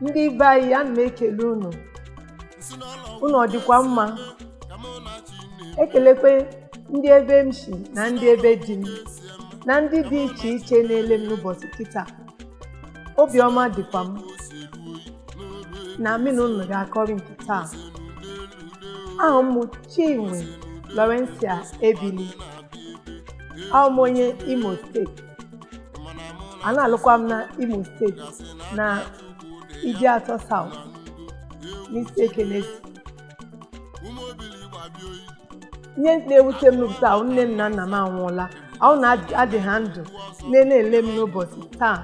ndị be anyị ana m ekele unu unu ọ dịkwa mma ekelekwe ndị ebe m si na ndị ebe di m na ndị dị iche iche na-ele m n'ụbọchị kịta obiọma dịkwa m na mụ na unu ga-akọrị nke taa aha m bụ Chinwe Laurencia Ebili awụ m onye Imo steeti a na-alụkwa m na Imo steeti na Ideatọ South n'Isiekenesi ihe na-ewute m n'ụbọchị taa wụ nne m na nna m anwụọla ọ wụ na adị ha ndụ na na-ele m n'ụbọchị taa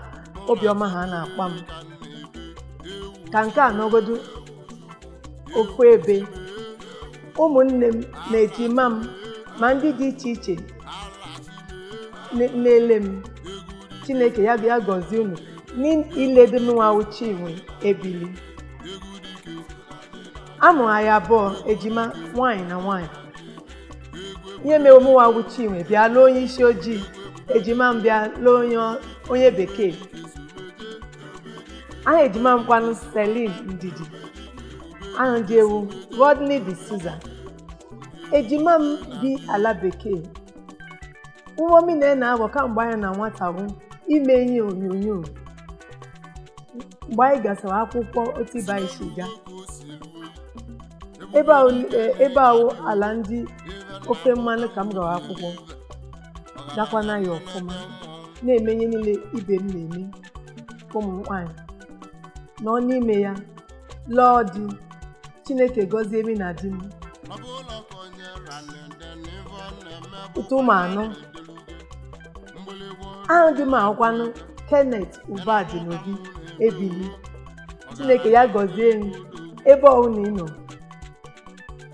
obiọma ha na-akpa m ka nke a nọgodu ofu ebe ụmụnne m na ejima m ma ndị dị iche iche na-ele m chineke ya bịa gọzie unu n'ilede mụnwa wụ chinwe ebili a mụrụ anyị abụọ ejima nwaanyị na nwaanyị ihe mere mụnwa wụ chinwe bịa lụọ onye isi ojii ejima m bịa lụọ onye onye bekee aha ejima m kwanụ celine ndidi aha di e wụ rodney de souza ejima m bi ala bekee mbọ m na-agba kamgbe anyị na nwata bụ ime ihe onyonyo mgbe anyị gasara akwụkwọ otu ibe anyị si gaa ebe ahụ eh, ebe wụ ala ndị ofe mmanụ ka m gara akwụkwọ dakwa na ya ọfụma na-eme ihe niile ibe m na-eme ụmụ nwaanyị nọ n'ime ya lụọ di chineke gọzie mị na di m mụta ụmụ anọ aha di m wụkwanụ Kenneth Ubadinobi Ebili Chineke ya gọzie m ebe ọbụla ị nọ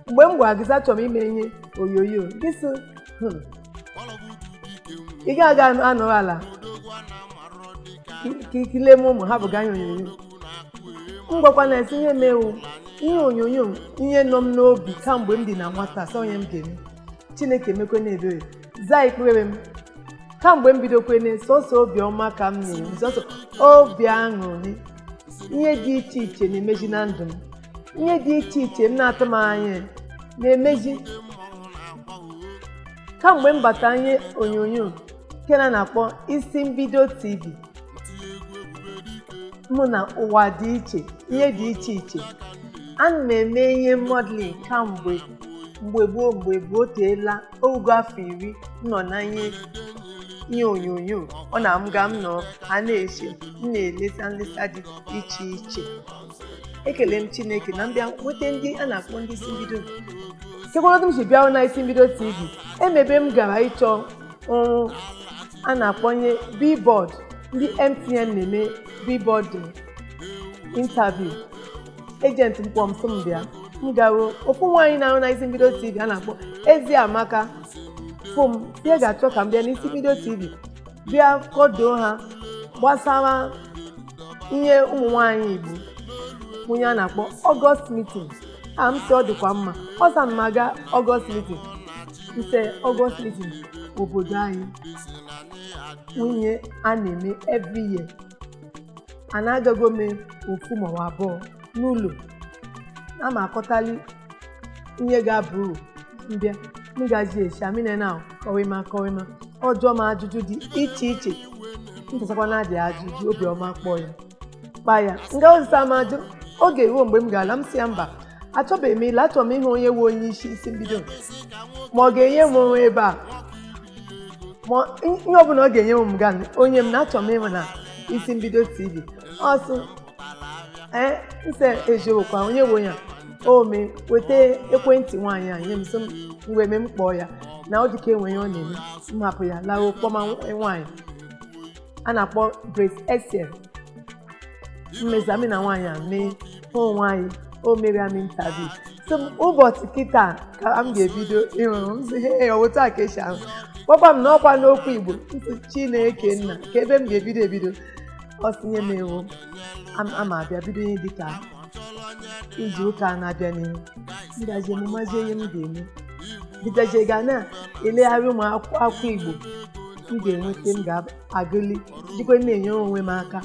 mgbe m gwara gị sị achọrọ m ime ihe onyonyo gị sị "Hmm, ị gaghị aga nọrọ ala ka i lee m ụmụ hapụ ịga ihe onyonyo m gwakwanụ e sị ihe m me wụ ihe onyonyo ihe nọ m n'obi kamgbe m dị na nwata sị ọ ihe m ga-eme Chineke emekwenụ ebere zaa ekpere m kamgbe m bidokwene sọsọ obiọma ka m na-enwe sọsọ obi aṅụrị ihe dị iche iche na-emeji na ndụ m ihe dị iche iche m na-atụ m anya na-emeji kamgbe m bata ihe onyonyo nke a na-akpọ isi mbido tv mụ na ụwa dị iche ihe dị iche iche ana m eme ihe modeling kamgbe mgbe gboo mgbe gboo o teela o rugo afọ iri m nọ na ihe ihe onyonyo ọ na m ga m nọ a na-esi m na-eleta nleta dị iche iche ekele m chineke na m bịa nweta ndị a na-akpọ ndị isi mbido sekwarodụ m si bịa na isi mbido tv e nwe ebe m gara ịchọ ọrụ a na-akpọ ihe billboard ndị mtn na-eme billboard interview agent m kpọọ m sị m bịa m garuo ofu nwaanyị na-arụ na isi mbido tv a na-akpọ Eziamaka fụ m ya ga-achọ ka m bịa n'isi mbido tv bịa kọdoo ha gbasara ihe ụmụ nwaanyị igbo wụ ihe a na-akpọ August meeting m sị ọ dịkwa mma ọ sị ana m aga August meeting m sị August meeting obodo anyị wụ ihe a na-eme every year a na-agago m ofu ma ọ bụ abụọ n'ụlọ na m akọtali ihe ga-aba uru m bịa m gazi echi amine na kọwịma kọwịma ọ jụọ m ajụjụ dị iche iche mpụtakwa na adị ajụjụ obiọma kpọọ ya kpa ya nga ozita m ajụ oge ruo mgbe m ga-ala m sị ya mba achọbeghị m ịla achọrọ m ịhụ onye nwe onye isi isi mbido ma ọ ga-enye m ọrụ ebe a ma ihe ọbụla ọ ga-enye m ka o nye m na achọ m ịma na isi mbido tv ọ sị ee m sị eziokwu onye bụ onye a o mee weta ekwentị nwaanyị a nye m sị m mgbe e mee m kpọọ ya na ọ dịka e nwe ihe ọ na-eme m hapụ ya lawa kpọma nwaanyị a na-akpọ Grace Essien emesa mụ na nwaanyị a mee hụ nwaanyị o mere m interview sị m ụbọchị kịta ka m ga-ebido ịrụ ọrụ m sị hee ọ wụ otu a ka e si ahụ gwakwa m na ọkwa n'okwu igbo m sị chineke nna kee ebe m ga-ebido ebido ọ sị nye m ewu am- ama abịa bido ihe dịka izu ụka a na-abịa n'ihu m ga-eji mụmazi ihe m ga-eme bidoji ga na-elegharị ụmụ akwụkwọ akwụkwọ igbo m ga-enweta m ga-agụli jikwa na-enyere onwe m aka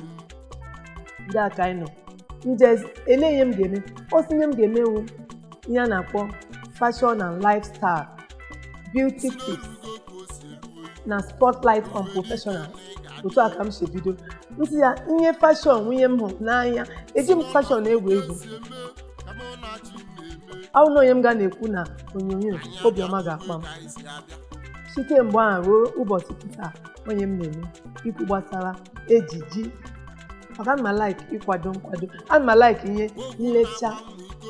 ndị a ka anyị nọ m jụọ ele ihe m ga-eme ọ sị ihe m ga-eme wụ ihe a na-akpọ fashion and lifestyle beauty tips na spotlight on professional otu a ka m si bido m sị ya ihe fashion wụ ihe m hụrụ n'anya eji m fashion egwu egwu ọ wụ na ọ ihe m ga na-ekwu na onyonyo obi ọma ga-akpa m site mgbe ahụ ruo ụbọchị taa ọ ihe m na-eme ikwu gbasara ejiji maka ana m alaiki ịkwado nkwado ana m alaiki ihe nlecha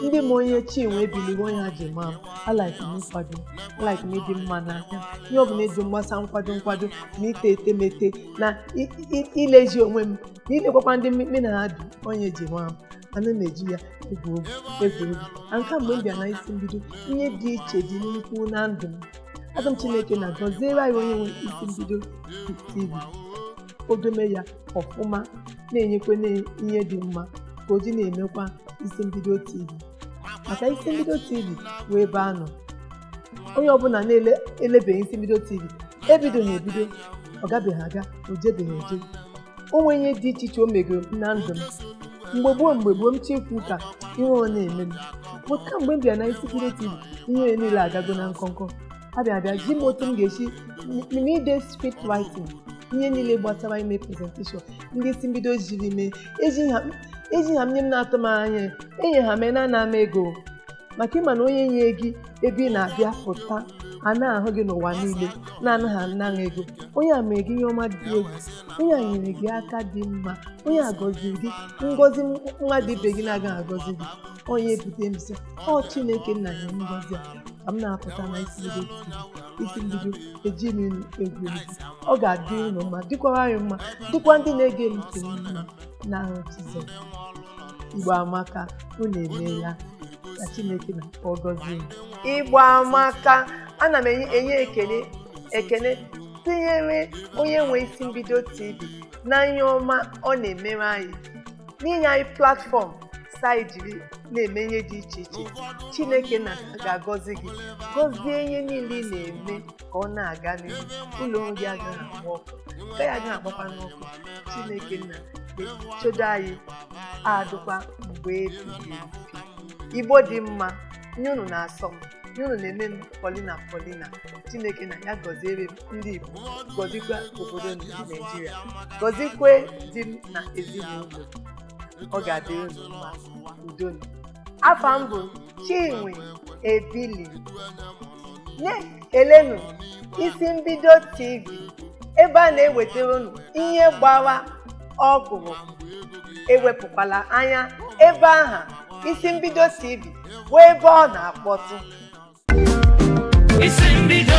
ndị ma onye chinwe ebili wụ ọ ihe ha ji maa m alaiki m nkwado alaiki m ịdị mma n'aka ihe ọbụla eji mgbasa nkwado nkwado na ite etemete na i- i- ilezi onwe m na ilekwakwa ndị mmekpe na ha dị ọ ihe e ji maa ana m eji ya egwu egwu egwu egwu and kamgbe m bịa na isi mbido ihe dị iche dị nnukwu na ndụ m asị m chineke nna gọziere anyị onye nwe isi mbido tv o dome ya ọfụma na-enyekwa ya ihe dị mma ka o ji na-emekwa isi mbido tv maka isi mbido tv wụ ebe a nọ onye ọbụla na-elebeghị isi mbido tv ebidoghị ebido ọ gabeghị aga o jebeghị eje o nwee ihe dị iche iche o megoro m na ndụ m mgbe gboo mgbe gboo m chọọ ikwu ụka ihere na-eme m but kamgbe m bịa na isi mbido tv ihe niile agago na nkọnkọ abịa abịa zi m otu m ga-esi ede script writing ihe niile gbasara ime presentation ndị isi mbido ziri m ya eji ha eji ha m nye m na-atụ m anya enye ha m ya na-ana m ego maka ịma na onye nye gị ebe ị na-abịa pụta a na-ahụ gị n'ụwa niile na-anaghị ana gị ego onye a mere gị ihe ọma dị egwu onye a nyere gị aka dị mma onye a gọziri gị ngọzi mmadụ ibe gị na-agaghị agọzi gị onye ebute mbisa ọ chineke nna ya ngọzi a ka m na-apụta na isi mbido isi mbido eji m egwu egwu ọ ga-adị unu mma dịkwara anyị mma dịkwa ndị na-ege m ntị mma n'aha jizọs igbo amaka unu emeela ka chineke nna gọzie unu. igbo amaka ana m enye ekene ekene tinyere onye nwe isi mbido tv na ihe ọma ọ na-emere anyị n'inye anyị platform ka anyị jiri na-eme ihe dị iche iche chineke nna ga-agọzi gị gọzie ihe niile ị na-eme ka ọ na-aga n'ihu ụlọ ọrụ gị agaghị agba ọkụ nke anyị agaghị agbakwanụ ọkụ chineke nna chedo anyị adụkwa mgbe ebighị ebi igbo dị mma ihe unu na-asọ m ihe unu na-eme m polina polina chineke nna ya gọziere m ndị igbo gọzikwa obodo m bụ naijiria gọzikwe di m na ezinụlọ m ọ ga-adị unu mma udo. afa m bụ chinwe ebili na-ekelenu isi mbido tv ebe a na-ewetara unu ihe gbara ọhụrụ ewepụkwala anya ebe aha isi mbido tv bụ ebe ọ na-akpọtụ isi mbido